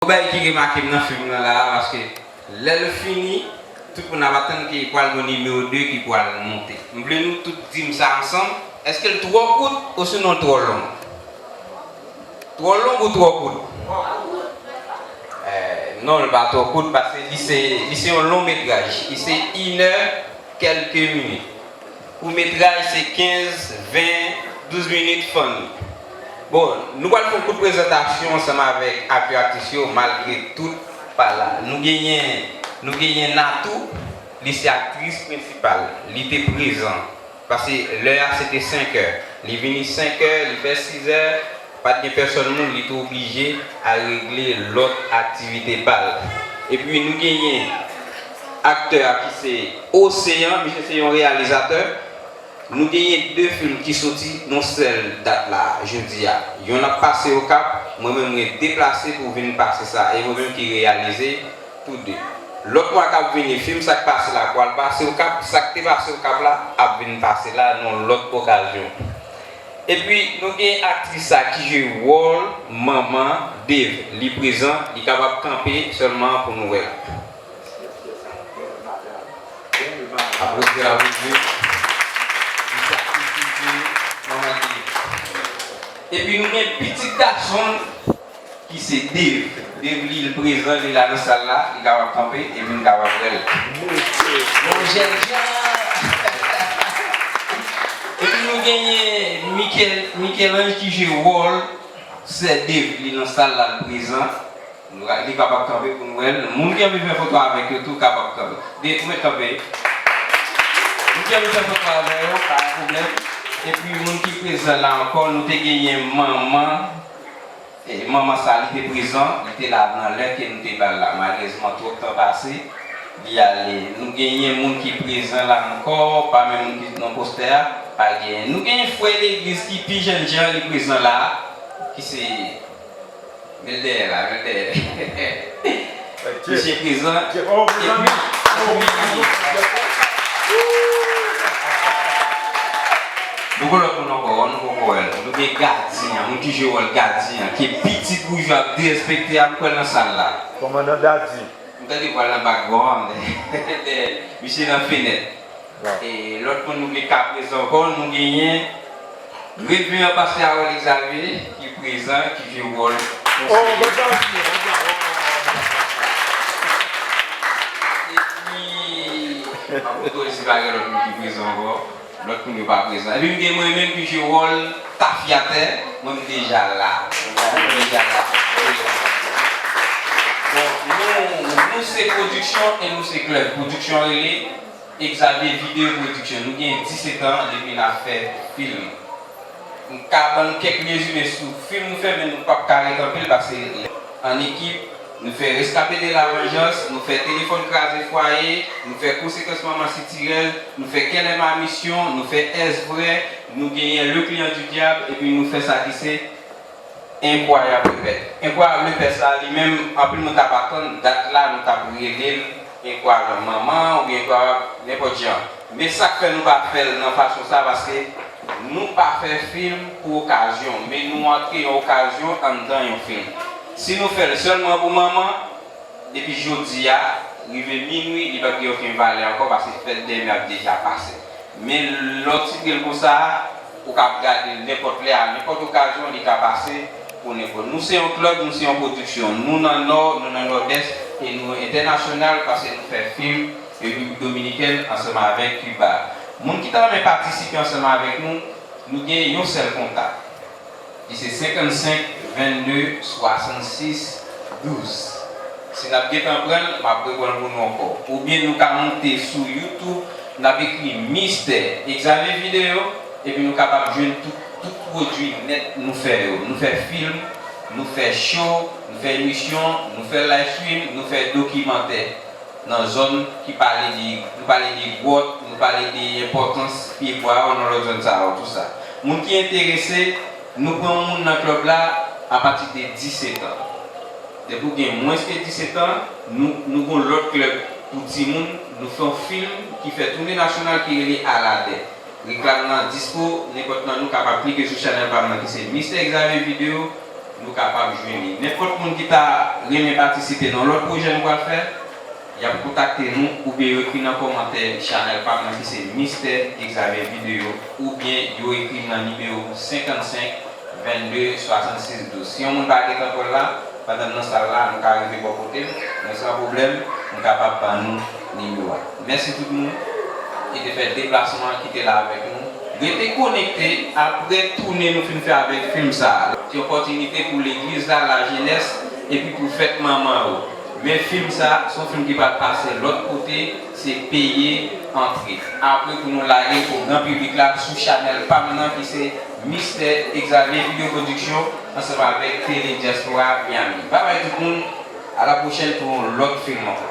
Yon bagay ki remake m nan film nan la a paske lè l fini tout moun ap atann ke pwal gon nimewo 2 ki pwal monte. M vle nou tout di m sa ansanm, èske l twò kout osinon l twò long? Twò long ou twò kout? Non l pa twò kout paske li se yon long metraj, li se inè kèlke minit. Kourtmetraj se 15, 20, 12 minit funny. Bon nou pral fon kout prezantasyon ansanm avèk aktè aktris yo malgre tout pa la. Nou genyen nou genyen Natou li se aktris prensipal li te prezan pase lè a se te 5 è li vini 5 è li fè 6 è. Pat gen pèsòn moun li t oblije al regle lòt aktivite pal. Epi nou genyen aktè a ki se Océan misye se yon reyalizatè nou genyen 2 film ki soti nou sèl dat la jodi a yonn ap pase okap mwen menm mwen deplase pou vin pase sa e mwen menm ki reyalize tou 2 lòt mwa kap vini film sak pase la pwal pase okap sak te pase okap la ap vin pase la nan lòt okazyon. Epi nou gen aktris sa ki jwe wòl manman Dave li prezan li kapab kanpe sèlman pou nou wèl. Aplodi a wi wi pou sakrifis manman Dave. Epi nou gen pitit gasonl. Ki se Dave. Dave li l prezan li la nan sal la li kapab kanpe epi m kapab wèl. Bon jènjan Epi nou genyen Michel Michel-Ange ki jwe wòl sè Dave li nan sal la l prezan li kapab kanpe pou n wèl moun ki anvi fè foto avèk yo tou kapab kanpe Dave ou mèt kanpe moun ki anvi fè foto avè yo pa gen pwoblèm epi moun ki prezan la ankò nou te genyen manman Manman sa li te prezan, li te la nan lè ke nou te bal la. Malerezman twòp tan pase, li ale. Nou genyen moun ki prezan la ankò, pami moun ki nan postè a, pa genyen. Nou genyen frè legliz ki pi jènjan li prezan la, ki se, men l dèyè la, men l dèyè. Mesye prezan epi akoumye nan li. Nou gen lòt moun ankò an nou poko wè l. Nou gen gadyen an, mwen toujou wè l gadyen an ki pi ti boujwa ap derespekte a m kwè l nan sal la. Kòmandan Daddy. M tande vwa l nan background an dèyè. Misye nan fenèt. E lòt moun nou vle ka prezan ankò, nou genyen Reveran Pastè Harold Xavier ki prezan ki jwe wòl konseye. Epi Apôtre Ozy pa gen lòt moun ki prezan ankò, lòt moun yo pa prezan. Epi m gen mwen menm ki jwe wòl tafyatè, mwen m deja la. Mwen deja la. Bon, nou se pwodiksyon e nou se klèb. Pwodiksyon rele. Xavier video production nou gen 17 ans depi nap fè film m ka bann kèk rezime sou film nou fè men nou pap ka rekanpel pase lè an ekip nou fè rescape de la vengeance nou fè telefòn kraze fwaye nou fè konsekans manman sitirèl nou fè kèlè ma mission nou fè est vrai nou genyen le client du diable epi nou fè sa ki se Enkwayab repè. Enkwayab repè sa a li menm anpil moun ta pa atann dat la nou tap rele l enkwayab manman oubyen enkwayab nenpòt jan men sak fè nou pa fè l nan fason sa paske nou pa fè film pou okazyon men nou antre yon okazyon anndan yon film si nou fè l sèlman pou manman depi jodi a rive minwi li pap gen oken valè ankò paske fèt demè ap deja pase men lè w titre l konsa a. Ou ka ap gade l nenpòt lè, a nenpòt okazyon, li ka pase pou nenpòt. Nou se yon klèb, nou se yon pwodiksyon. Nou nan Nò, nou nan Nòdès e nou entènasyonal pase nou fè fim Repiblik Dominikèn ansanm avèk Kiba. Moun ki ta renmen patisipe ansanm avèk nou, nou gen yon sèl kontak. ki se 55 22 66 12 si nap gentan pranl map repranl pou nou ankò oubyen nou ka moute sou YouTube nap ekri Mistè Examen Video epi nou kapab jwenn tout tout pwodwi nèt nou fè yo nou fè film nou fè show nou fè emisyon nou fè live stream nou fè dokimantè. Nan zòn ki pale de, nou pale de gwòt, nou pale de enpòtans pye bwa yo nan lòt zòn sa yo, tou sa. Moun ki enterese, nou pran moun nan klèb la apati de 10 etan. Depi ou gen mwens ke 10 etan, nou, nou gen yon lòt klèb pou timoun, nou fè yon film ki fè toune nasyonal ki rele Aladè. Reklam nan dispo, nenpòt nan nou kapab klike sou chanèl pam nan ki se Mister Xavier Video, nou kapab jwenn li. Nenpòt moun ki ta renmen patisipe nan lòt pwojè nou pral fè, yap kontakte nou oubyen yo ekri nan kòmantè chanèl pam nan ki se Mister Xavier Video oubyen yo ekrim nan nimewo 55 22 66 12. Si yon moun pa gen tankòl la, pandan m nan sal la, nou ka rive bò kotem, mwen san pwoblèm, m kapab ban nou nimewo a. Mèsi tout moun ki te fè deplasman ki te la avèk nou. Rete konekte apre toune nou fin fè avèk film sa. Se opòtinite pou legliz la, lajenès epi pou fèt manman yo. Men film sa, se yon film ki pral pase lòt kote, se peye antre. Apre pou nou lagel pou gran piblik la sou chanèl pam nan ki se Mistè Exavier Video Production ansanm avèk Tele Diaspora Miami. Babay tout moun, a la pwochèn pou yon lòt film ankò.